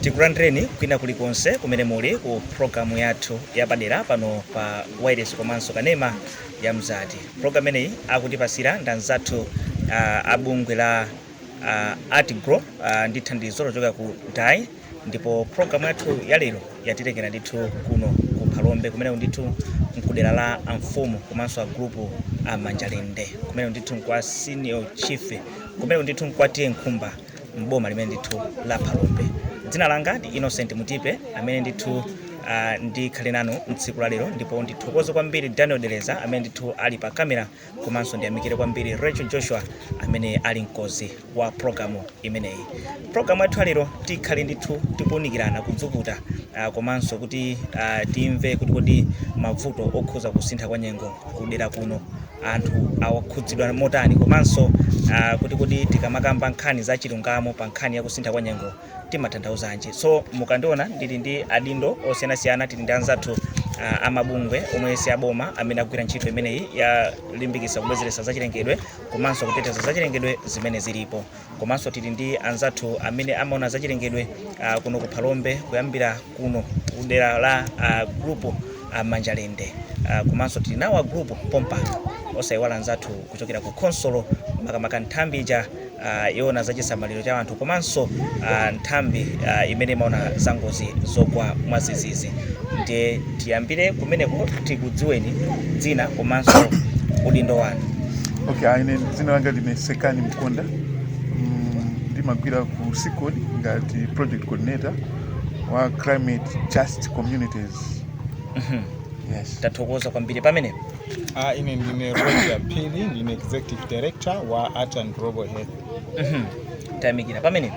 Tikulandireni kwina kuli konse kumene muli ku programu yathu yapadera pano pa wailesi komanso kanema ya Mzati. Programu imeneyi akutipasira ndi anzathu uh, a bungwe la uh, ArtGlo uh, ndi thandizo lochokera ku DAI ndipo programu yathu ya lero yatitengera ndithu kuno ku Phalombe kumeneko ndithu mkudera la amfumu komanso a gulupu a Manjalende kumeneko ndithu nkwa senior chief kumeneko ndithu nkwa TA Nkhumba m'boma limene ndithu la phalombe dzina langa ndi innocent mutipe amene ndithu uh, ndikhale nanu mtsiku la lero ndipo ndithokoze kwambiri daniel deleza amene ndithu ali pa kamera komanso ndiyamikire kwambiri rachel joshua amene ali mkozi wa programu imeneyi programu yathu ya lero tikhale ndithu tikuunikirana kudzukuta uh, komanso kuti uh, timve kuti kodi mavuto okhuza kusintha kwa nyengo kudera kuno anthu awakhudzidwa motani komanso ah, kuti kodi tikamakamba nkhani za chilungamo pa nkhani ya kusintha kwa nyengo timatanthauzanji so mukandiona ndili ndi adindo osiyanasiyana tili ndi anzathu ah, amabungwe omwe si aboma amene agwira ntchito imeneyi yolimbikitsa kubwezeretsa zachilengedwe komanso kuteteza zachilengedwe zimene zilipo Komanso tili ndi anzathu amene amaona zachilengedwe kuno ku Phalombe kuyambira kuno ku dera la a gulupu a Manjalende komanso tili nawo a gulupu pompano osaiwala anzathu kuchokera ku khonsolo makamaka nthambi ija yoona za chisamaliro cha anthu komanso nthambi imene imaona za ngozi zogwa mwadzidzidzi. Tiyambire kumeneko tikudziweni dzina komanso udindo wanu. Okay, ine dzina langa ndine Sekani Mkonda. Mm, ndimagwira ku SICOD ngati project coordinator wa climate just communities. Mhm. Yes. Tathokoza kwambiri pamenepo. Ah, ine ndine Rodger Phiri, ndine executive director wa Art and Global Health. Mhm. Tayamikira pamenepo.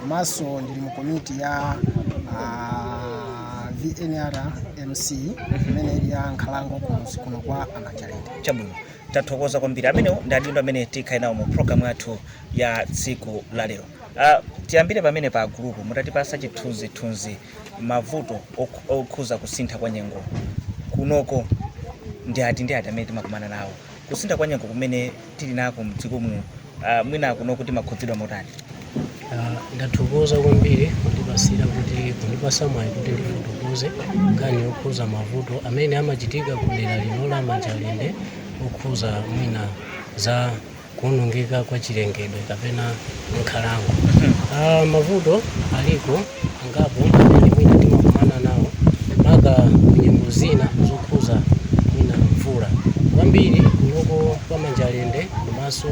komanso ndili mu komiti ya ah, VNRMC imene ili ya nkhalango kumuzi kuno kwa a Manjalende. chabwino tathokoza kwambiri amenewo ndi adindo amene tikhale nawo mu programu yathu ya tsiku la lero Ah, tiyambire pamene pa agulupu mutatipasa chithunzithunzi mavuto okh- okhuza kusintha kwa nyengo kunoko ndi ati ndi ati amene timakumana nawo Kusintha kwa nyengo kumene tili nako mdziko muno, ah, mwina kunoko timakhudzidwa motani? Ah, ndathokoza kwambiri kundipasira kuti kundipasa mwayi kuti ndifotokoze nkhani yokhuza mavuto amene amachitika ku dera lino la Manjalende okhuza mwina za kuonongeka kwa chilengedwe kapena nkhalango. Ah, mavuto aliko angapo amene mwina timakumana nawo maka kunyengo zina zokhuza mwina mvula kwambiri kunoko kwa manjalende komanso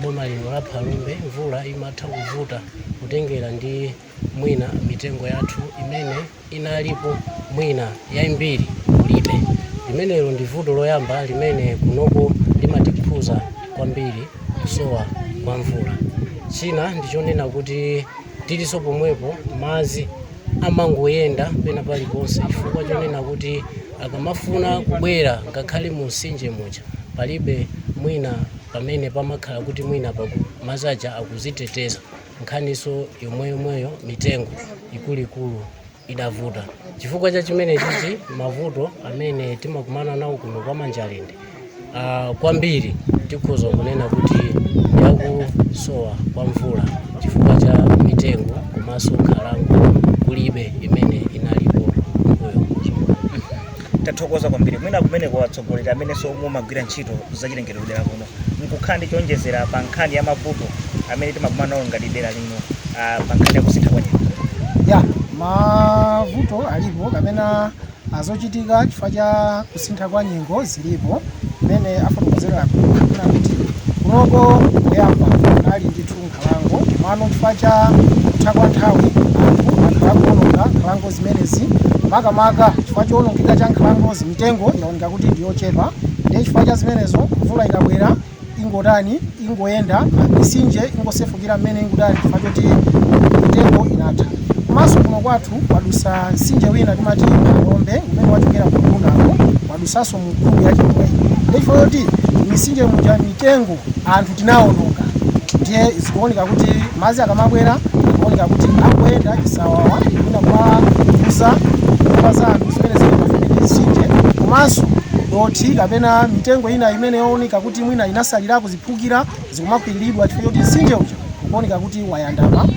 boma lino la phalombe mvula imatha kuvuta kutengera ndi mwina mitengo yathu imene inalipo mwina yaimbiri kulibe limenelo ndi vuto loyamba limene kunoko limatikhuza kwambiri kusowa kwa mvula china ndichonena kuti tiliso pomwepo mazi amangoyenda pena paliponse chifukwa chonena kuti akamafuna kubwera ngakhale mu msinje muja palibe mwina pamene pamakhala kuti mwina mazi aja akuziteteza nkhaniso yomweyomweyo mitengo ikuluikulu idavuta. Chifukwa cha chimenechichi mavuto amene timakumana nawo kuno kwa Manjalende uh, kwambiri tikhoza kunena kuti yakusowa kwa mvula chifukwa cha mitengo komanso nkhalango kulibe imene inalipo mbuyo tathokoza kwambiri mwina kumeneko atsogoleri amenenso mumagwira ntchito zachilengedwe kudera kuno mukukhala ndi choonjezera pa nkhani ya mavuto amene timakumana nawo ngati dera lino ah, pa nkhani ya kusintha kwa nyengo? ya mavuto alipo kapena azochitika chifukwa cha kusintha kwa nyengo zilipo mmene afotokozera akuluakulu kuti kunoko kuyamba kunali ndithu nkhalango mano chifukwa cha kutha kwa nthawi anthu akhala akuononga nkhalango zimenezi makamaka chifukwa choonongeka cha nkhalangozi mitengo yaoneka kuti ndi yochepa ndiye chifukwa cha zimenezo mvula ikabwera ingotani ingoyenda misinje ingosefukira mmene ingotani chifukwa choti mitengo inatha komanso kuno kwathu kwadusa msinje wina timati Phalombe umene wachokera ku Bunako wadusanso mfumu ya chimwemwe ndichifukwa choti misinje muja mitengo anthu tinawononga ndiye zikuoneka kuti madzi akamabwera akuoneka kuti akuyenda chisawawa kukakhudza nyumba za anthu zimene zili pafupi ndi msinje komanso dothi kapena mitengo ina imene yooneka kuti mwina inatsalirako ziphukira zikumakwiriridwa chifukwa choti msinje uja ukuoneka kuti wayandama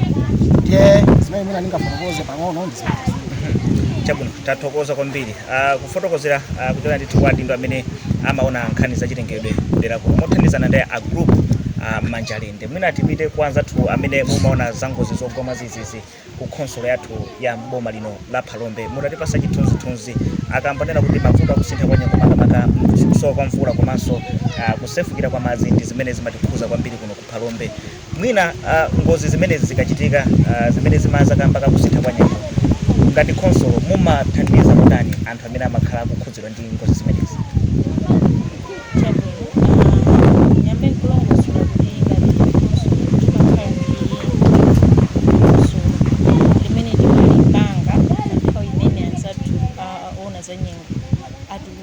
ndiye zimene mwina ndingafotokoze pang'ono ndi zimenezo chabwino tathokoza kwambiri Uh, kufotokozera uh, kuchokera ndithu kwa adindo amene amaona nkhani za chilengedwe kudera kuno mothandizana ndi a group uh, Manjalende mwina tipite kwa anzathu amene mumaona za ngozi zogwa mwadzidzidzi ku khonsolo yathu ya mboma lino la phalombe mutatipatsa chithunzithunzi akamanena kuti mavuto akusintha kwa nyengo makamaka kusowa kwa mvula komanso uh, kusefukira kwa madzi ndi zimene zimatikhuza kwambiri kuno ku phalombe Mwina ngozi zimenezi zikachitika zimene zimadza kamba ka kusintha kwa nyengo, ngati khonsolo mumathandiza motani anthu amene amakhala akukhudzidwa ndi ngozi zimenezi? Chabwino, ndiyambe nkulongosola kuti ngati khonsolo timakhala ndi dongosolo limene timalipanga pa nthawi imene anzathu a owona za nyengo atulutsa.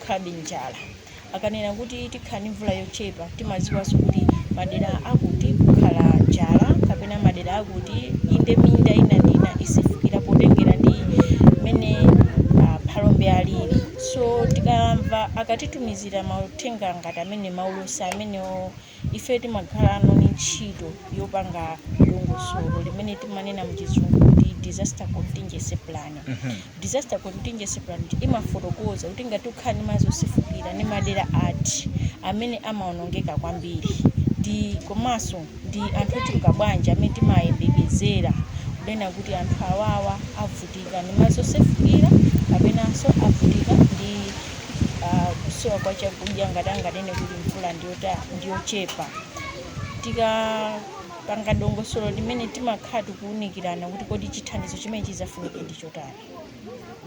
tikhala ndi njala. Akanena kuti tikhala ndi mvula yochepa, timadziwanso kuti madera akuti kukhala njala kapena madera akuti inde minda ina ndi ina isefukira potengera ndi mmene ah, Phalombe alili. So tikamva akatitumizira mauthenga ngati amene maulosi amenewo Ife timakhalano ndi ntchito yopanga dongosolo limene timanena mchizungu kuti disaster contingency plan. Mm -hmm. Disaster contingency plan imafotokoza kuti ngati ukhala ndi madzi osefukira ndi madera ati amene amaonongeka kwambiri ndi komanso ndi anthu ochuluka bwanji amene timayembekezera kunena kuti anthu awawa avutika ndi madzi osefukira kapenanso avutika ndi ah, kusowa kwa chakudya ngati anganene kuti mvula ndiyochepa tikapanga dongosolo limene timakhala tikuwunikirana kuti kodi chithandizo chimene chidzafunike ndi chotani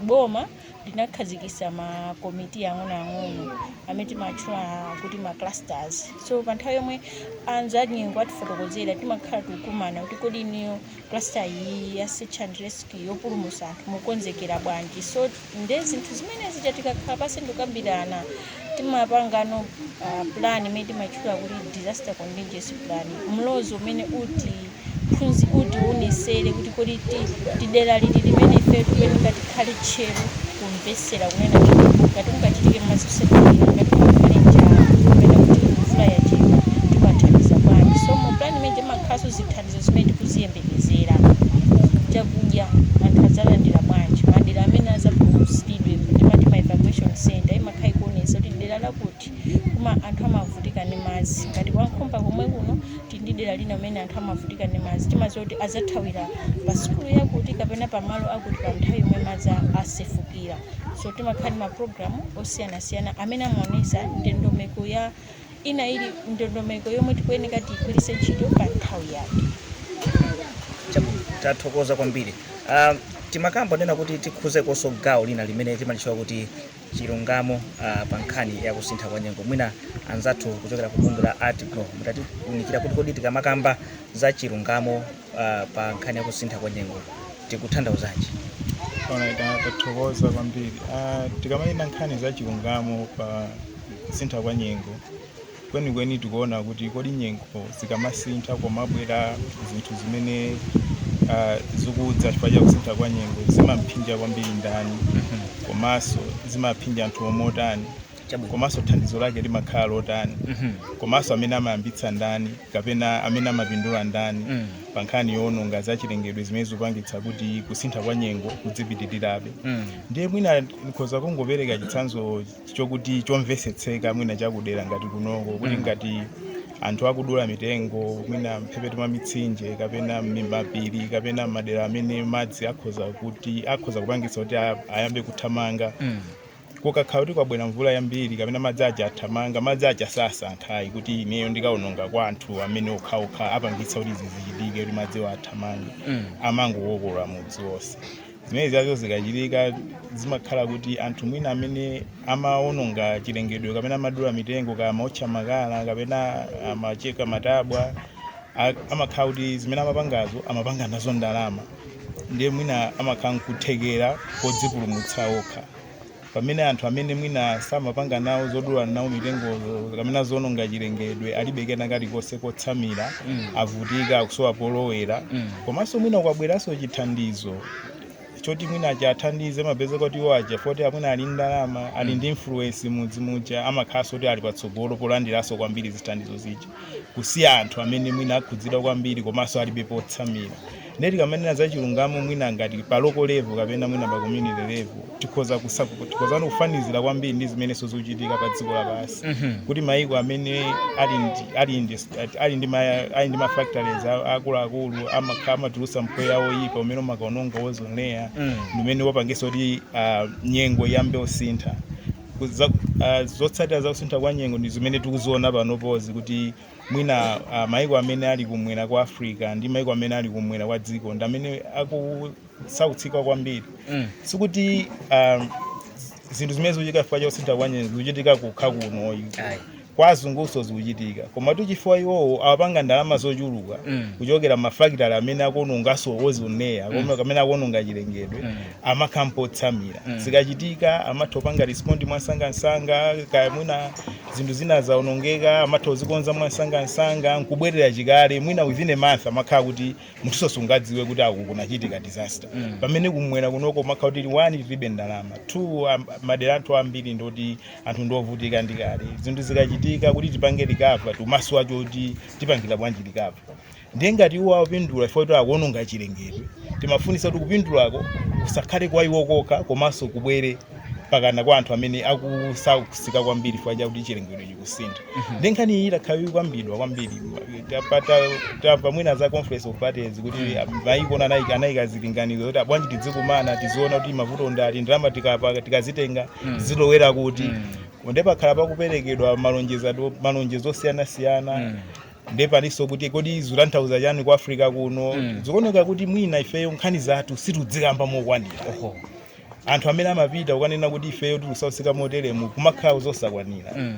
boma linakhazikisa makomiti ang'onoang'ono amene timatchula kuti ma clusters so pa nthawi yomwe a zanyengo atifotokozera timakhala tikukumana kuti kodi inuyo cluster iyi ya search and rescue yopulumutsa anthu mukonzekera bwanji so Nde zinthu zimene zija tikakhala pansi ndikukambirana timapangano uh, plan imene timatchula kuti disaster contingency plan, mlozo umene utiphunzi utionesere kuti kodi ndi dera liti limene ife tikuyeneka tikhale tcheru kumvetsera kunena kuti ngati kungachitike madzi osefukira ngati kungakhale njala kapena kuti mvula yachepa timathandiza bwanji. So mu plan imene imakhalanso zithandizo zimene tikuziyembe kuyembekezera chakudya anthu adzalandira bwanji madera amene adzapulumutsidwe timati ma evacuation center imakhala ikuonetsa kuti dera lakuti kuma anthu amavutika ndi madzi ngati kwa Nkhumba komwe kuno tili ndi dera lina kumene anthu amavutika ndi madzi timadziwa kuti adzathawira pa sukulu yakuti kapena pa malo akuti pa nthawi yomwe madzi a- asefukira so timakhala ndi ma program osiyanasiyana amene amaonetsa ndondomeko ya Ina ili ndondomeko yomwe tikuyeneka tiigwiritse ntchito pa nthawi yake. Chabwino, tathokoza kwambiri. Uh, timakamba kunena kuti tikhuzekonso gawo lina limene timalitchula kuti chilungamo uh, pa nkhani ya kusintha kwa nyengo. Mwina anzathu kuchokera ku bungwe la ArtGlo mutatiunikira kuti kodi tikamakamba za chilungamo uh, pa nkhani ya kusintha kwa nyengo tikutanthauzanji Alright, ah, tathokoza kwambiri Ah, tikamanena nkhani za chilungamo pa kusintha kwa nyengo kwenikweni tikuona kuti kodi nyengo zikamasintha komabwera zinthu zimene ah, zikudza chifukwa cha kusintha kwa nyengo zimaphinja kwambiri ndani komanso zimaphinja anthu omotani Chabwino. komanso thandizo lake limakhala lotani Mhm. komanso amene amayambitsa ndani kapena amene amapindula ndani Mm. pa nkhani yoononga za chilengedwe zimene zikupangitsa kuti kusintha kwa nyengo kudzipitirirabe Mm. ndiye mwina ndikhoza kungopereka chitsanzo chokuti chomvesetseka mwina chakudera ngati kunoko kuti Mm. ngati anthu akudula mitengo mwina mphepete mwa mitsinje kapena m'mapiri kapena madera amene madzi akhoza kuti akhoza kupangitsa kuti a- ayambe kuthamanga Mm. Kukakhala kuti kwabwera mvula yambiri kapena madzi aja athamanga, madzi aja sasankha ayi kuti ineyo ndikaononga kwa anthu amene okhaokha apangitsa kuti izi zichitike kuti madziwo athamange Mm. amangokokola mudzi wonse zimenezizo zikachitika zimakhala kuti anthu mwina amene amaononga chilengedwe kapena amadula mitengo kaya amaotcha makala kapena amacheka matabwa a- amakhala kuti zimene amapangazo amapanga nazo ndalama ndiye mwina amakhala nkuthekera kodzipulumutsa okha pamene anthu amene mwina samapanga nawo zodula nawo mitengo kapena zononga chilengedwe alibe kena kalikonse kotsamira avutika akusowa polowera komanso mwina ukabweranso chithandizo choti mwina chiwathandize mupeza kuti iwo aja poti mwina ali ndalama ali ndi influence m'mudzi muja amakhalanso kuti ali patsogolo polandiranso kwambiri zithandizo zija kusiya anthu amene mwina akhudzidwa kwambiri komanso alibe potsamira Ndiye tikamanena za chilungamo mwina ngati pa local level kapena mwina pa community level tikhoza tikhozanso kufanizira kwambiri ndi zimenenso zikuchitika pa dziko lapansi mm -hmm. kuti maiko amene ali ndi ali ndi ali ndi ali ndi mafactories akuluakulu amatulutsa mpweya woyipa umene umakaononga ozone layer mm. umene wapangitsa kuti uh, nyengo iyambe kusintha uh, zotsatira za kusintha kwa nyengo ndi zimene tikuziona panopozi kuti mwina uh, maiko amene ali kumwera kwa africa ndi maiko amene ali kumwera kwa dziko ndi amene akusautsika kwambiri mm. sikuti um, zinthu zimene zikuchitika chifukwa cha kusintha kwa nyengo zikuchitika kokha kuno ayi kwa azungunso zikuchitika koma chifukwa iwowo apanga ndalama zochuluka mm. kuchokera m'mafakitale amene akuononganso ozone layer mm. amene akuononga chilengedwe mm. amakhala ndi potsamira mm. zikachitika amatha kupanga respond mwansangansanga kaya mwina zinthu zina zaonongeka amatha kuzikonza mwansangansanga nkubwerera chikale mwina within a month amakhala kuti munthunso sungadziwe kuti aku kunachitika disaster mm. pamene kumwera kunoko umakhala kuti one tilibe ndalama two am- madera anthu ambiri ndoti anthu ndiovutika ndi kale zinthu zikachitika kuti tipange recover timasowa choti tipangira bwanji recover Ndiye ngati iwo akupindula chifukwa choti akuononga chilengedwe, timafunitsa kuti kupindulako kusakhale kwa iwo kokha komanso kubwere mpakana kwa anthu amene akusautsika kwambiri chifukwa chakuti chilengedwe chikusintha. Ndiye nkhani iyi itakhala ikukambidwa kwambiri, tapa- ta- tamva mwina za conference of parties kuti maiko onse anayika anayika zilinganizo kuti bwanji tidzikumana tiziona kuti mavuto ndi ati ndalama tikapa- tikazitenga zilowera kuti. Ndiye pakhala pakuperekedwa malonjezano- malonjezo osiyanasiyana ndiye palinso kuti kodi zikutanthauza chani ku africa kuno Mm. zikuoneka kuti mwina ifeyo nkhani zathu situdzikamba mokwanira oho anthu amene amapita kukanena kuti ifeyo tikusautsika moteremu kumakhala zosakwanira Mm.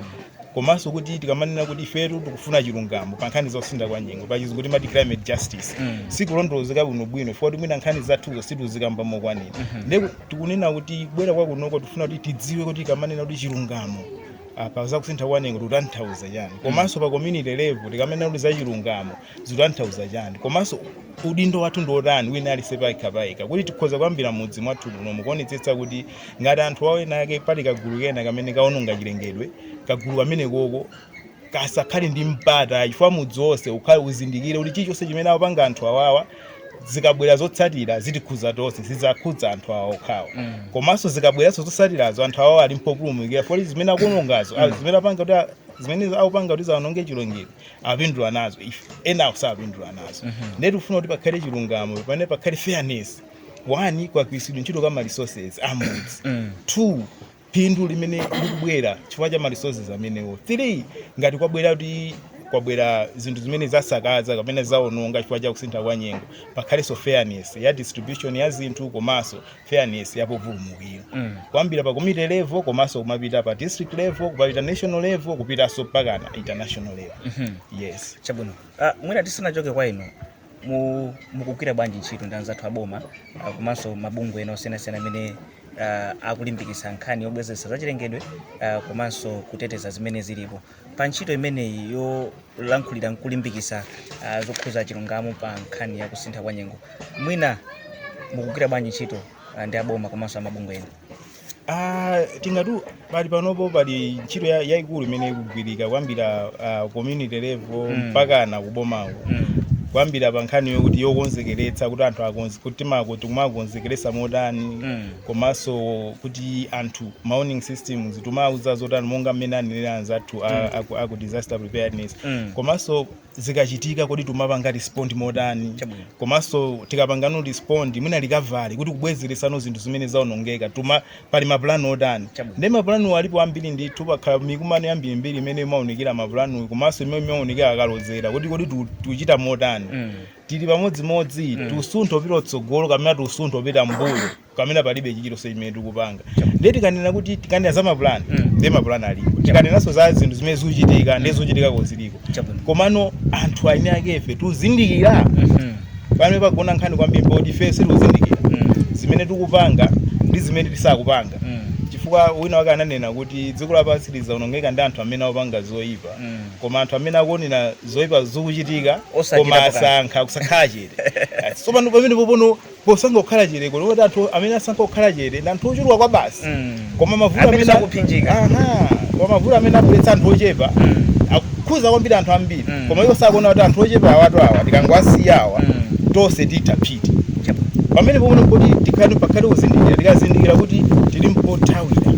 komanso kuti tikamanena kuti ifetu tikufuna chilungamo pa nkhani zosintha kwa nyengo pachizungu timati climate justice Mm. sikulondolozeka bwino bwino chifukwa choti mwina nkhani zathuzo situzikamba mokwanira nde tikunena kubwera kwakunoko tifuna kuti tidziwe kuti tikamanena kuti chilungamo pa za kusintha kwa nyengo tikutanthauza chani komanso pa community level tikamanena kuti za chilungamo zikutanthauza chani komanso udindo wathu ndi otani wina aliyense payekha payekha kuti tikhoza kuyambira mudzi mwathu muno mukuonetsetsa kuti ngati anthu awo enaake pali kagulu kena kamene kaononga chilengedwe kagulu kamenekoko kasakhale ndi mpata chifukwa mudzi wonse ukhale uzindikire kuti chilichonse chimene akupanga anthu awawa zikabwera zotsatira zitikhuza tonse sizidzakhudza anthu awo okhawo komanso zikabweranso zotsatirazo anthu awo ali mpopulumukira poti zimene akuonongazo ah, zimene apanga kuti a- zimene akupanga kuti aononge chilengedwe apindula nazo ife enawo sapindula nazo ndiye tikufuna kuti pakhale chilungamo pamene pakhale fairness one kagwiritsidwe ntchito ka ma resources amudzi two phindu limene likubwera chifukwa cha ma resources amenewo 3 ngati kwabwera kuti kwabwera zinthu zimene zasakaza kapena zaononga chifukwa cha kusintha kwa nyengo pakhalenso fairness ya distribution ya zinthu komanso fairness ya populumukira mm. kuyambira pa community level komanso kumapita pa district level kumapita national level kupitanso mpakana international level mm -hmm. yes chabwino uh, mwina tisanachoke kwa inu mu- mukugwira bwanji ntchito ndi anzathu aboma ah, komanso mabungwe ena osiyanasiyana amene ah, akulimbikitsa nkhani yobwezeretsa zachilengedwe ah, komanso kuteteza zimene zilipo pa ntchito imeneyi yolankhulira nkulimbikitsa ah, zokhudza chilungamo pa nkhani ya kusintha kwa nyengo mwina mukugwira bwanji ntchito ah, ndi aboma komanso amabungwe ena Ah, tingati pali panopo pali ntchito ya- yayikulu imene ikugwirika kuyambira ah, community level Mm. mpakana kubomako Mm. kuyambira pa nkhani yokuti yokonzekeretsa kuti anthu akonze kuti makomo tikumakonzekeretsa motani Mm. komanso kuti anthu ma warning systems timawauza zotani monga mmene anenera anzathu a- aku- aku disaster preparedness Mm. komanso zikachitika kodi tumapanga respond motani Chabwino. komanso tikapangano respond mwina recovery kuti kubwezeresano zinthu zimene zaonongeka tuma pali mapulani otani Chabwino. nde mapulaniwo alipo ambiri ndithu pakhala mikumano yambirimbiri imene imaunikira mapulani komanso imene imaunikira akalozera kuti kodi tu- tuchita motani Mm. tili pamodzimodzi tusuntha kupita kutsogolo kapena tusuntha kupita m'mbuyo kapena palibe chilichonse chimene tikupanga ndiye tikanena kuti tikanena za mapulani Mm. ndiye mapulani alipo tikanenanso za zinthu zimene zikuchitika ndiye zochitika zo ziliko Chabwino. komano anthu eni akefe tuzindikira Mhm. pamene pagona nkhani kwambiri poti ife tuzindikira Mm. zimene tikupanga ndi zimene tisakupanga Mm. chifukwa wina wake ananena kuti dziko lapansi silizaonongeka ndi anthu amene akupanga zoyipa Mm. koma anthu amene akuonera zoyipa zikuchitika Osachitapo koma kanthu. asankha kukhala chete tsopano pamenepo pano posankha kukhala chete kuno kuti anthu amene asankha kukhala chete ndi anthu ochuluka kwabasi Mm. koma mavuto Amene amene sakuphinjika. aha koma mavuto amene abweretsa anthu ochepa akukhuza kwambiri anthu ambiri Mm. koma iwo sakuona kuti anthu ochepa awatu awa tikangowasiya awa Mm. tonse titha psiti Chabwino. pamenepo pano kuti tikhale pakhale kuzindikira tikazindikira kuti tili ndi pothawira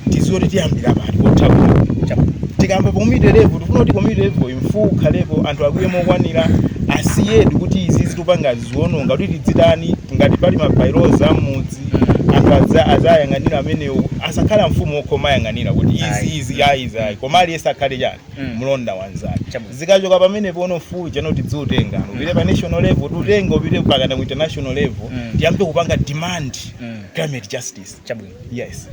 tiziwe kuti tiyambira pati pothawira Chabwino. tikamba community level tikufuna kuti community level mfuwu ukhalepo anthu akwiye mokwanira aziwe kuti izi zitupanga ziwononga kuti tidzitani ngati pali ma by-laws a m'mudzi anthu adza- adzayang'anira amenewo asakhale mfumu yokha yomwe ayang'anira kuti izi Ayi. izi ayi izi ayi koma aliyense akhale chani Mm. mlonda wanzake Chabwino. zikachoka pamenepo pano mfuwu pano tidziutenga upite pa national level tiutenga upite pakana ku international level Mm. tiyambe kupanga demand Mm. climate justice chabwino yes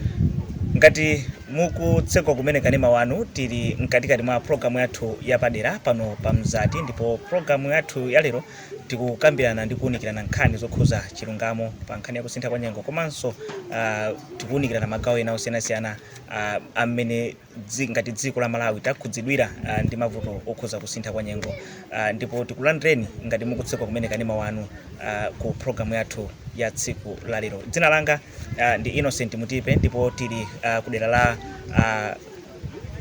ngati mukutseka kumene kanema wanu tili mkatikati mwa programu yathu yapadera pano pa mzati ndipo programu yathu yalero tikukambirana ndi kuwunikirana nkhani zokhuza chilungamo pa nkhani ya kusintha kwa nyengo komanso uh, tikuwunikirana magawo ena osiyanasiyana uh, amene dzi, ngati dziko la malawi takhudzidwira uh, ndi mavuto okhuza kusintha kwa nyengo uh, ndipo tikulandireni ngati mukutsegula kumene kanema wanu uh, ku programu yathu ya tsiku la lero dzina langa uh, ndi innocent mutipe ndipo tili uh, kudera la uh,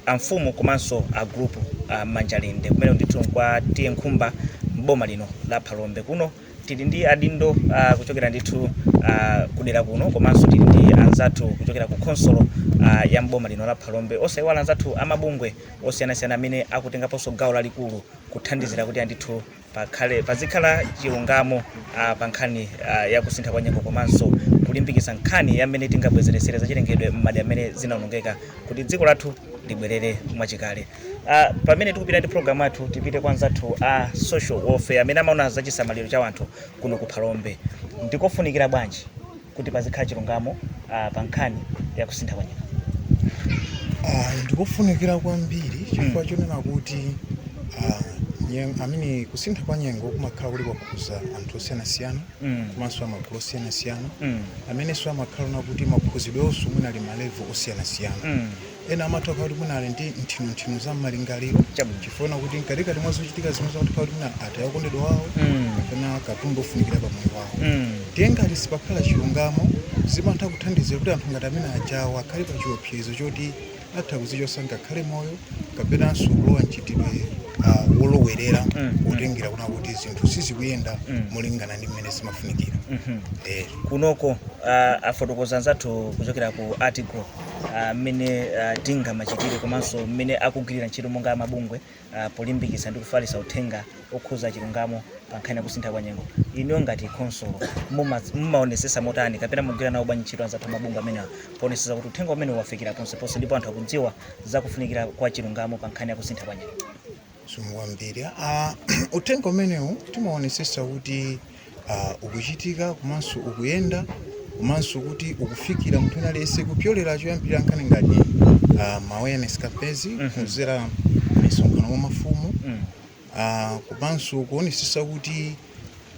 amfumu komanso a group a Manjalinde kumene ndithu nkwa T/A Nkhumba m'boma lino la Phalombe kuno tili ndi adindo uh, kuchokera ndithu uh, kudera kuno komanso tili ndi anzathu kuchokera ku khonsolo uh, ya m'boma lino la Phalombe osayiwala anzathu amabungwe osiyanasiyana amene akutengaponso gawo lalikulu kuthandizira kuti andithu pakhale, pazikhala chilungamo ah, pa nkhani ah, ya kusintha kwa nyengo komanso kulimbikitsa nkhani ya mmene tingabwezeretsere zachilengedwe m'madera amene zinaonongeka kuti dziko lathu libwerere mwachikale ah, pamene tikupita ndi programu yathu tipite kwa anzathu a social welfare amene amaona za chisamaliro cha wanthu kuno ku phalombe ndikofunikira bwanji kuti pazikhala chilungamo uh, pa nkhani ya kusintha kwa nyengo? Uh, ndikofunikira kwambiri chifukwa mm. chonena kuti uh, amene kusintha kwa nyengo kumakhala kuli kwakhuza anthu osiyanasiyana mm. komanso amagulu osiyanasiyana mm. amenenso amakhala kuti makhuzidwenso mwina ali ma level osiyanasiyana mm. Ena amatha kukhala kuti mwina ali ndi nthinunthinu za m'malingaliro Chabwino. chifukwa kuti mkatikati mwa zochitika zimene zakuti khala kuti mwina ataya okondedwa wawo Mm. kapena katundu ofunikira pa moyo wawo Mm. ndiye ngati sipakhala chilungamo zimatha kuthandizira kuti anthu ngati amene ajawo akhale pa chiopsezo choti atha kuzichosa ngakhale moyo kapenanso kulowa mchitidwe ah, wolowerera Mm. potengera kuna kuti zinthu sizikuyenda Mm. molingana ndi mmene zimafunikira Mhm. eh. kunoko uh, afotokoza anzathu kuchokera ku article ah, mmene ah, tingamachitire komanso mmene akugwirira ntchito monga mabungwe ah, polimbikitsa ndi kufalitsa uthenga okhuza chilungamo pa nkhani ya kusintha kwa nyengo inuyo ngati khonsolo muma- mumaonesesa motani kapena mumagwira nawo bwanji ntchito ndi anzathu amabungwe amenewa poonetsetsa kuti uthenga umenewu wafikira ponseponse ndipo anthu akudziwa zakufunikira kwa chilungamo pa nkhani ya kusintha kwa nyengo Zikomo kwambiri. Ah, uthenga umenewu timaonetsetsa kuti ah, ukuchitika komanso ukuyenda komanso kuti ukufikira munthu wina aliyense kupyolera choyambirira nkhani ngati ah, ma awareness campaigns kudzera misonkhano mwa mafumu ah, komanso kuonetsetsa kuti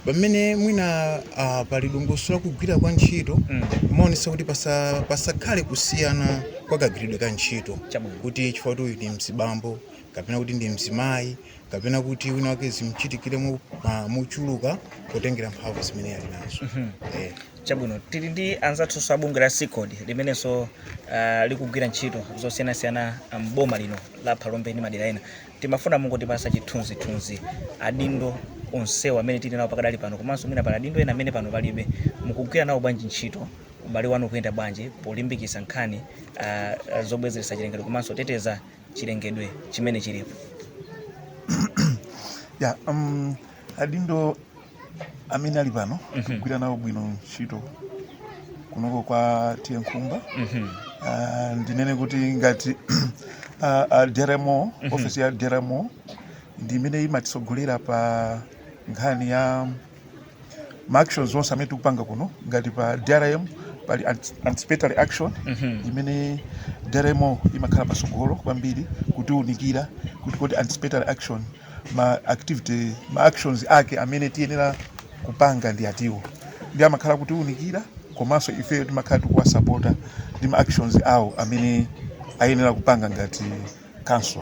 pamene mwina ah, pali dongosolo la kugwira kwa ntchito kumaonetsetsa kuti pasa- pasakhale kusiyana kwa kagwiridwe ka ntchito Chabwino. kuti chifukwa kuti uyu ndi mzibambo kapena kuti ndi mzimayi kapena kuti wina wake zimchitikire mo- ma- mochuluka potengera mphamvu zimene ali nazo Eh. chabwino tili ndi anzathunso a bungwe la cicod limenenso uh, likugwira ntchito zosiyanasiyana ah, m'boma lino la phalombe ndi madera ena timafuna mungotipasa chithunzithunzi adindo onsewa amene tili nawo pakadali pano komanso mwina pali adindo ena amene pano palibe mukugwira nawo bwanji ntchito ubale wanu ukuyenda bwanji polimbikitsa nkhani uh, zobwezeretsa chilengedwe komanso teteza chilengedwe chimene chilipo ya um, adindo amene ali pano Mhm. tikugwira nawo bwino ntchito kunoko kwa T/A Nkhumba Mhm. Ah, ndinene kuti ngati ah, a drmo Mhm. ofesi ya drmo ndi imene imatitsogolera pa nkhani ya ma actions onse amene tikupanga kuno ngati pa drm pali ant- anticipatory action imene drmo imakhala pasogolo kwambiri kutiunikira kuti kodi anticipatory action ma activity ma actions ake amene tiyenera kupanga ndi atiwo nde amakhala kutiunikira komanso ifeyo timakhala tikuwasapota ndi ma actions awo amene ayenera kupanga ngati council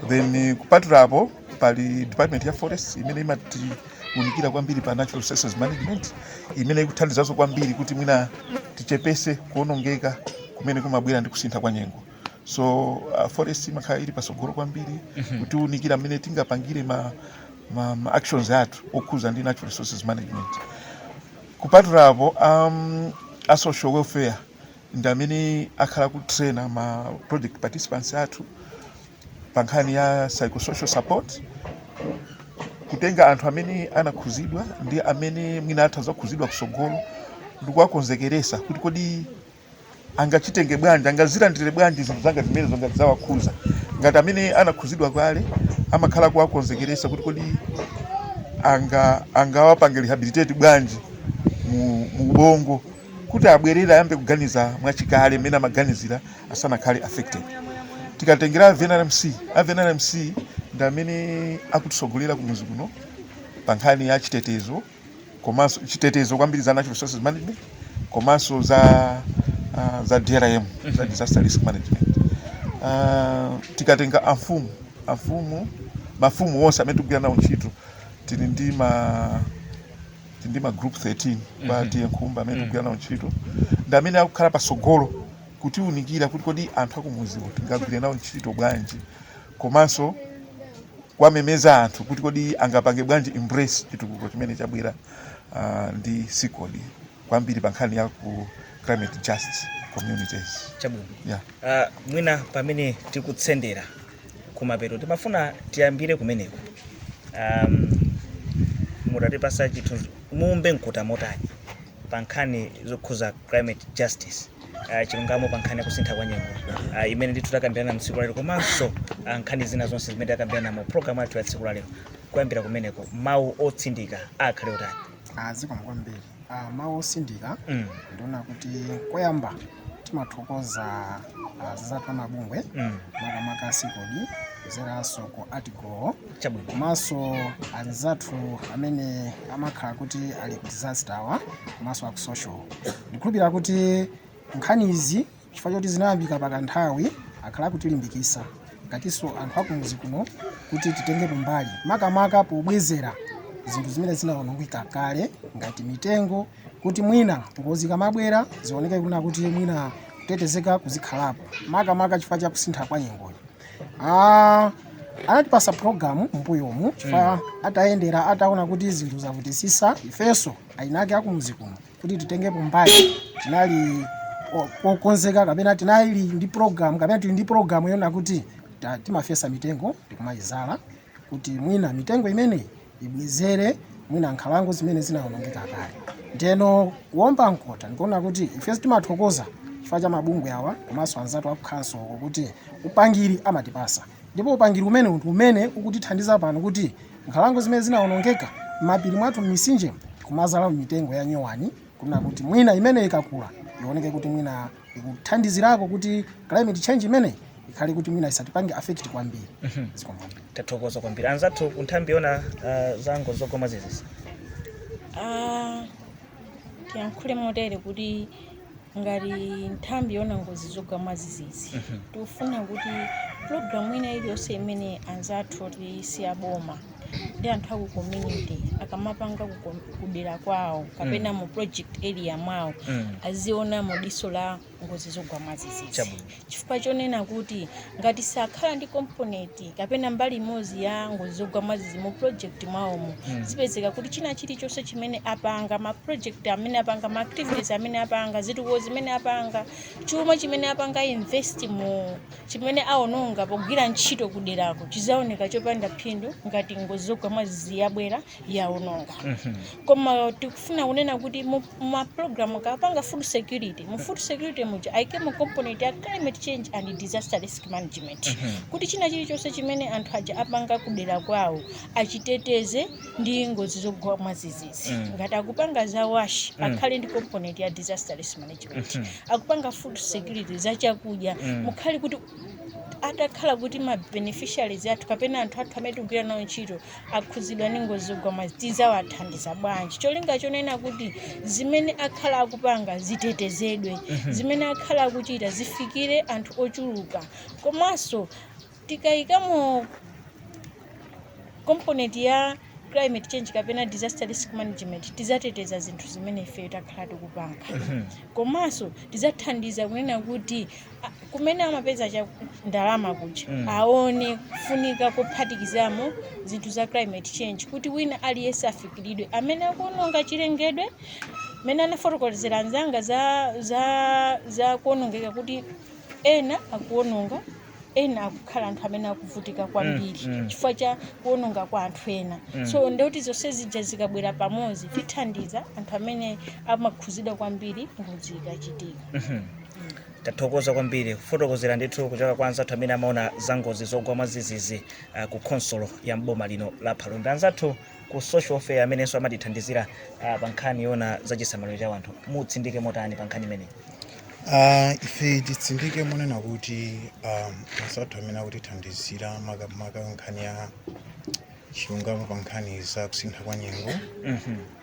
then kupatula apo pali department ya forest imene imatiunikira kwambiri pa natural resources management imene ikuthandizanso kwambiri kuti mwina tichepese kuonongeka kumene kumabwera ndi kusintha kwa nyengo so uh, forest imakhala ili patsogolo kwambiri kutiunikira mmene tingapangire ma, ma, ma actions athu okhuza ndi natural resources management kupatula apo um, a social welfare ndi amene akhala kutraina ma project participants athu pa nkhani ya psychosocial support kutenga anthu amene anakhuzidwa ndi amene mwina atha kuzakhuzidwa kusogolo ndikuwakonzekeresa kuti kodi angazitenge bwanji angazilandire bwanji zinthu zanga zimene zanga zawakhuza ngati amene anakhuzidwa kale amakhala kuwakonzekeresa kuti kodi anga angawapange rehabilitate bwanji mu, mu ubongo kuti abwerere ayambe kuganiza mwachikale mmene amaganizira asanakhale affected tikatengera a VNRMC a VNRMC ndi amene akutisogolera kumuzi kuno pa nkhani ya chitetezo komanso chitetezo kwambiri za natural resources management komanso za uh, za DRM za disaster risk management uh, tikatenga amfumu amfumu mafumu onse amene tikugwira nawo ntchito tili ndi ma ndi ma group 13 kwa T/A Nkhumba amene tikugwira nawo ntchito ndi amene akukhala patsogolo kutiunikira kuti kodi anthu akumuziwo tingagwire nawo ntchito bwanji komanso kuwamemeza anthu kuti kodi angapange bwanji embrace chitukuko chimene chabwera ah, ndi CICOD kwambiri pa nkhani ya ku climate just communities chabwino yeah. uh, mwina pamene tikutsendera kumapeto timafuna tiyambire kumeneko um, mutatipasa chithu muumbe mkota motani pa nkhani zokhuza climate justice uh, chilungamo pa nkhani ya kusintha kwa nyengo uh, imene ndithu takambirana mu tsiku lalero komanso uh, nkhani zina zonse zimene takambirana mu programu yathu ya tsiku lalero kuyambira kumeneko mawu otsindika akhale otani zikomo kwambiri Uh, mawu osindika mm. ndi wonena kuti koyamba timathokoza uh, azizathu amabungwe mm. makamaka CICOD kuzeranso ku agriculture komanso anzathu amene amakhala kuti ali ku disaster wa komanso aku social ndikhulupirira kuti nkhani izi chifukwa choti zinayambika pakanthawi akhala akutilimbikisa ngatiso anthu akumudzi kuno kuti titengepo mbali makamaka pobwezera zinthu zimene zinaonongeka kale ngati mitengo kuti mwina ngozi zikamabwera zioneke kunena kuti mwina kutetezeka kuzikhalapo makamaka chifukwa cha kusintha kwa nyengoyo Ah, anatipasa programu mbuyomu chifukwa atayendera ataona kuti zinthu zavutisisa ifeso eniake akumudzi kuno kuti titengepo mbali tinali o- okonzeka kapena tinali ndi program kapena tili ndi program yoona kuti ta- timafesa mitengo ndikumayizala kuti mwina mitengo imeneyi ibwezere mwina nkhalango zimene zinawonongeka kale ndeno kuomba mkota ndikuona kuti ifenso timathokoza chifukwa cha mabungwe awa komanso anzathu aku khansolo kuti upangiri amatipasa Ndipo upangiri umenewu ndi umene ukutithandiza pano kuti nkhalango zimene zinawonongeka, m'mapiri mwathu, m'mitsinjemu, tikumadzalamo mitengo ya nyowani kunena kuti mwina imeneyi ikakula ioneke kuti mwina ikuthandizirako kuti climate change imeneyi ikhale kuti mwina isatipange affect kwambiri. Zikomo kwambiri. tathokoza kwambiri anzathu ku nthambi yoona uh, za ngozi zogwa mwadzidzidzi Ah, tiyankhule motere kuti ngati nthambi yoona ngozi zogwa mwadzidzidzi tikufuna kuti pulogalamu ina iliyonse imene anzathu oti si aboma ndi anthu aku community akamapanga ku kom- kudera kwawo kapena mu project area mwawo Mm. aziona mu diso la ngozi zogwa mwadzidzidzi Chabwino. chifukwa chonena kuti ngati sakhala ndi komponenti kapena mbali imodzi ya ngozi zogwa mwadzidzidzi mu project mwawomo Mm. zipezeka kuti china chilichonse chimene apanga ma project amene apanga ma activities amene apanga zitukuko zimene apanga chuma chimene apanga invest mu chimene aononga pogwira ntchito kuderako chizaoneke chopanda phindu ngati ngozi zogwa mwadzidzidzi yabwera yaononga koma tikufuna kunena kuti mu- mumapulogalamu akapanga food security mu food security muja aikemo component ya climate change and disaster risk management kuti china chilichonse chimene anthu aja apanga kudera kwawo achiteteze ndi ngozi zogwa mwazizizi Mm. ngati akupanga za wash Mm. akhale ndi component ya disaster risk management akupanga food security za chakudya Mm. mukhale kuti atakhala kuti ma beneficiaries athu kapena anthu athu amene tikugwira nawo ntchito akhudzidwa ndi ngozi zogwa mwazi tidzawathandiza bwanji cholinga chonena kuti zimene akhala akupanga zitetezedwe zimene akhala akuchita zifikire anthu ochuluka komanso tikayikamo component ya climate change kapena disaster risk management tizateteza zinthu zimene ifeyo takhala tikupanga komanso tizathandiza kunena kuti kumene amapeza cha ndalama kuja Mm. aone kufunika kuphatikizamo zinthu za climate change kuti wina aliyense afikiridwe amene akuononga chilengedwe mmene anafotokozera anzanga za, za, za kuonongeka kuti ena akuononga ena akukhala anthu amene akuvutika kwambiri Mm, mm. chifukwa cha kuononga kwa anthu ena Mm. so ndeuti zonse zija zikabwera pamodzi tithandiza anthu amene amakhuzidwa kwambiri ngozi ikachitika Mhm. tathokoza kwambiri kufotokozera ndithu kuchoka kwa anzathu amene amaona za ngozi zogwa mwadzidzidzi uh, ku khonsolo ya mboma lino la phalombe anzathu ku social welfare amenenso amatithandizira uh, pa nkhani yoona za chisamaliro cha wanthu mutsindike motani pa nkhani imeneyi Ah, ife titsindike monena kuti um, anzathu amene akutithandizira makamaka nkhani ya chilungamo pa nkhani za kusintha kwa nyengo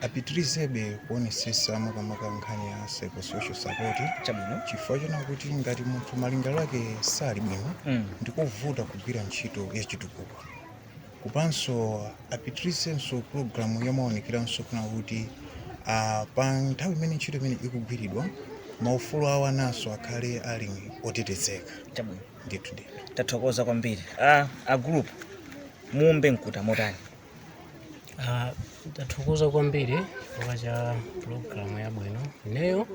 apitirizebe kuonesesa makamaka nkhani ya psychosocial support chabwino chifukwa choona kuti ngati munthu malingaliro ake sali bwino Mm. ndikovuta kugwira ntchito ya chitukuko komanso apitirizenso pulogalamu yomaonekeranso kuona kuti ah, pa nthawi imene ntchito imene ikugwiridwa maufulu awo ananso akhale ali otetezeka chabwino ndithu ndithu tathokoza kwambiri a, a group muombe mkota motani Ah, tathokoza kwambiri chifukwa cha pulogalamu yabwino ineyo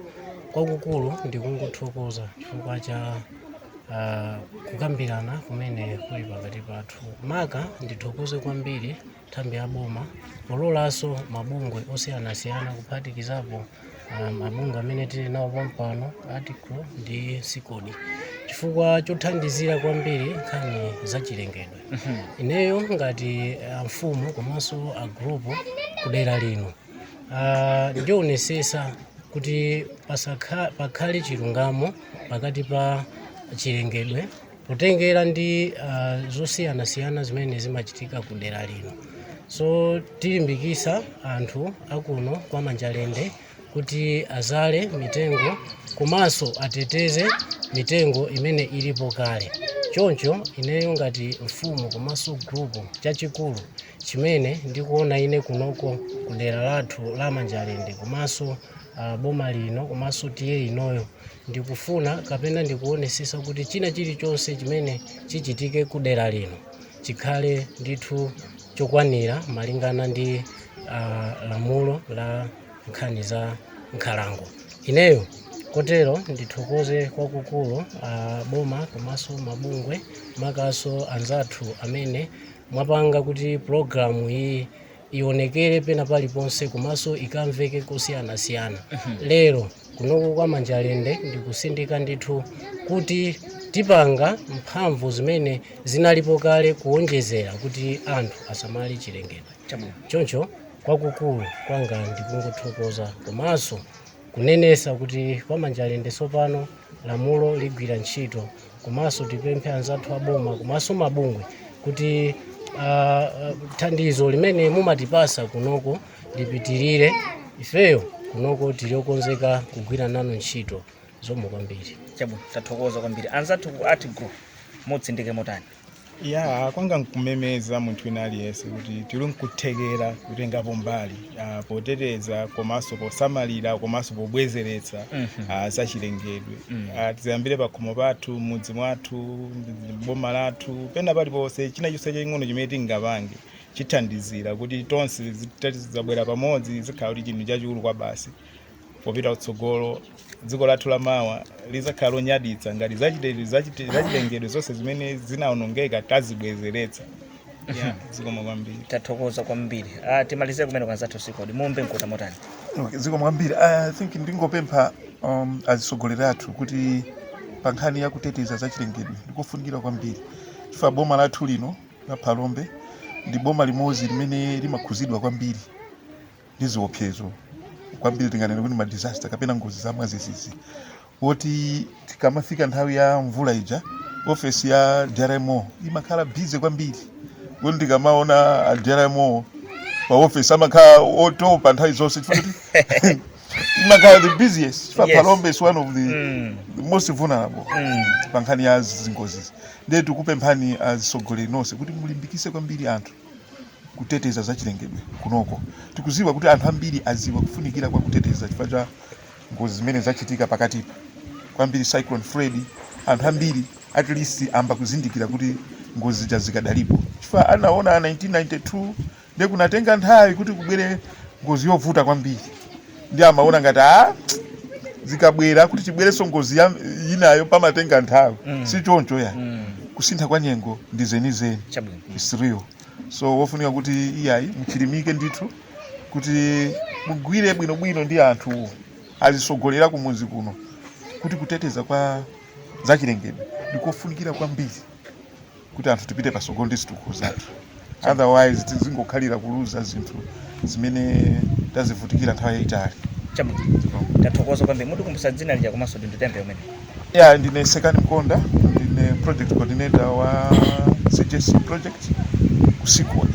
kwakukulu ndikungothokoza chifukwa cha ah, kukambirana kumene kuli pakati pathu maka ndithokoze kwambiri nthambi ya boma pololanso mabungwe osiyanasiyana kuphatikizapo ah, mabungwe amene tili nawo pompano article ndi sikodi chifukwa chothandizira kwambiri nkhani za chilengedwe ineyo ngati ah, mfumu komanso a gulupu kudera lino ah, ndionesesa kuti pasakha- pakhale chilungamo pakati pa chilengedwe potengera ndi uh, zosiyanasiyana zimene zimachitika ku dera lino so tilimbikisa anthu akuno kwa manjalende kuti azale mitengo komanso ateteze mitengo imene ilipo kale choncho ineyo ngati mfumu komanso gulupu chachikulu chimene ndikuona ine kunoko ku dera lathu la manjalende komanso uh, boma lino komanso TA inoyo Ndikufuna kapena ndikuonesesa kuti china chilichonse chimene chichitike kudera lino chikhale ndithu chokwanira malingana ndi lamulo la nkhani za nkhalango. Ineyo kotero ndithokoze kwakukulu a boma komanso mabungwe makanso anzathu amene mwapanga kuti pulogalamu iyi ionekere pena paliponse komanso ikamveke kosiyanasiyana lero kunoko kwa manjalende ndikusindika ndithu kuti tipanga mphamvu zimene zinalipo kale kuonjezera kuti anthu asamale chilengedwe chabwino choncho kwakukulu kwanga ndikungothokoza komanso kunenesa kuti kwa manjalende tsopano lamulo ligwira ntchito komanso tipemphe anzathu aboma komanso mabungwe kuti uh, thandizo limene mumatipasa kunoko lipitirire ifeyo kunoko tili okonzeka kugwira nanu ntchito zomwe kwambiri chabwino tathokoza kwambiri anzathu ku art group mutsindike motani ya kwanga nkumemeza munthu wina aliyense kuti tili nkuthekera kutengapo mbali ah, poteteza komanso posamalira komanso pobwezeretsa ah, zachilengedwe Ah, tiziyambira pakhomo pathu m'mudzi mwathu ndi- boma lathu pena paliponse china chonse chaching'ono chimene tingapange chithandizira kuti tonse zitati zidzabwera pamodzi zikhala kuti chinthu chachikulu kwabasi popita kutsogolo dziko lathu la mawa lizakhala lonyaditsa ngati zachite- zachite- zachilengedwe zonse zimene zinaonongeka tazibwezeretsa Yeah, zikomo kwambiri tathokoza kwambiri ah, timalize kumene kwa anzathu a CICOD muombe mkota motani Okay, zikomo kwambiri i think ndingopempha um, azitsogoleri athu kuti pa nkhani ya kuteteza zachilengedwe ndikofunikira kwambiri chifukwa boma lathu lino la phalombe ndi boma limodzi limene limakhuzidwa kwambiri ndi ziopsezo kwambiri tinganene kuti ma disaster kapena ngozi za mwazizizi moti tikamafika nthawi ya mvula ija ofesi ya drmo imakhala busy kwambiri kuti tikamaona a drmo pa ofesi amakhala otopa nthawi zonse chifukwa kuti imakhala the busiest chifukwa Yes. phalombe is one of the Mm. the most vulnerable Mm. pa nkhani ya zingozi ndiye tikupemphani azisogoleri nonse kuti mulimbikise kwambiri anthu kuteteza zachilengedwe kunoko. Tikuziwa kuti anthu ambiri aziwa kufunikira kwa kuteteza chifukwa cha ngozi zimene zachitika pakatipa kwambiri cyclone Freddy. Anthu ambiri at least ayamba kuzindikira kuti ngozi zija zikadalipo chifukwa anaona 1992 ndiye kunatenga nthawi kuti kubwere ngozi yovuta kwambiri. ndiye amaona ngati a ah, zikabwera kuti ibwerenso ngozi ya- inayo pamatenga nthawi Mm. si choncho ayi Mm. kusintha kwa nyengo ndi zenizeni Chabwino. it's real so wofunika kuti iyayi mchilimike ndithu kuti mugwire bwinobwino ndi anthu azisogoleri kumuzi kuno kuti kuteteza kwa zachilengedwe ndikofunikira kwambiri kuti anthu tipite patsogolo ndi zitukuko zathu otherwise tizingokhalira kuluza zinthu zimene tazivutikira nthawi yayitali Chabwino. Tathokoza kwambiri. Mutikumbutse dzina lija komanso ndi tembe umene. ya ndine sekani mkonda ndine project coordinator wa cjc project ku CICOD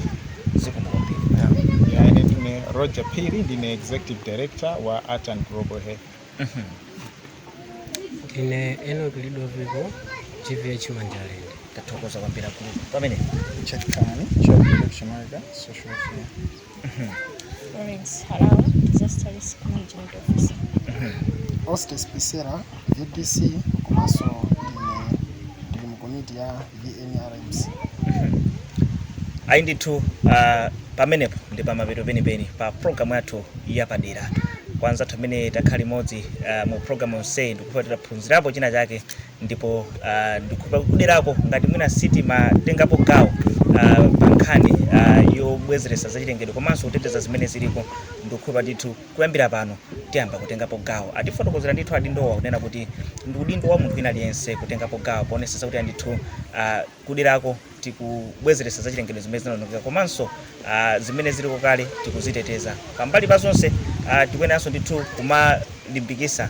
Zikomo kwambiri. yeah. Ya, ine ndine Roger Phiri ndine Executive Director wa Art and Global Health. ndine enoki lidoviko gvh manjalende tathokoza kwambiri akulu pamene Chakani, Chakani, Chamaga, Social Welfare. Florence Harawa, Disaster Risk Management Officer. Hostess Pisera, VDC, komanso ine ndili mu komiti ya ayi ndithu ah, pamenepo ndi pamapeto penipeni pa programu yathu yapadera kwa anzathu amene takhala limodzi ah, mu programu yonseyi ndikhulupa taphunzirapo china chake ndipo ah, ndikhulupa kuderako ngati mwina sitimatengapo gawo ah, pa nkhani ah, yobwezeretsa zachilengedwe komanso kuteteza zimene ziliko ndikhulupa ndithu Kuyambira pano tiyamba kutengapo gawo. Atifotokozera ndithu adindowa kunena kuti ndi udindo wa munthu wina aliyense kutengapo gawo poonetsetsa kuti ayi ndithu kuderako tikubwezeretsa zachilengedwe zimene zinaonongeka komanso zimene ziliko kale tikuziteteza. Pambali pa zonse tikuyeneranso ndithu kumalimbikitsa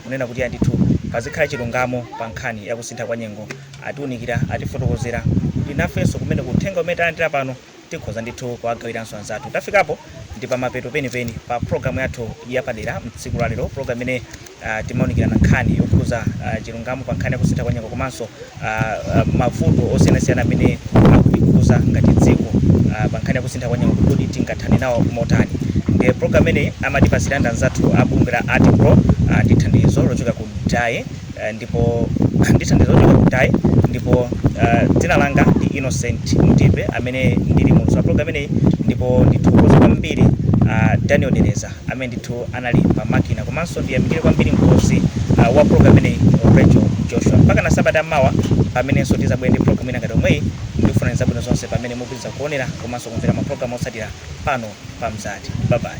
kunena kuti ayi ndithu pazikhala chilungamo pa nkhani ya kusintha kwa nyengo, atiunikira, atifotokozera kuti nafenso kumeneko uthenga umene talandira pano. tikhoza ndithu kuwagawiranso anzathu. Tafikapo ndi pamapeto penipeni pa programu yathu yapadera mtsiku la lero, programu imene ah, timaunikirana nkhani yokhuza ah, chilungamo pa nkhani ya kusintha kwa nyengo komanso ah, ah, mavuto osiyanasiyana amene akutikhuza ngati dziko ah, pa nkhani ya kusintha kwa nyengo kuti kodi tingathane nawo motani. Ndiye programu imeneyi amatipasira ndi anzathu a bungwe la ArtGlo ah, ndi thandizo lochokera ku DAI eh, ndipo ndi thandizo lochokera ku dai ndipo eh, dzina langa ndi innocent mtipe amene ndili muulutsi wa program imeneyi ndipo ndithokoze kwambiri ah, daniel dereza amene ndithu anali pa makina komanso ndiyamikire kwambiri mkonzi ah, wa program imeneyi rachel joshua mpaka na sabata ya mawa pamenenso tizabwere ndi program ina ngati yomweyi ndikufunirani zabwino zonse pamene mupitiriza kuonera komanso kumvera maprogramu otsatira pano pa mzati babayi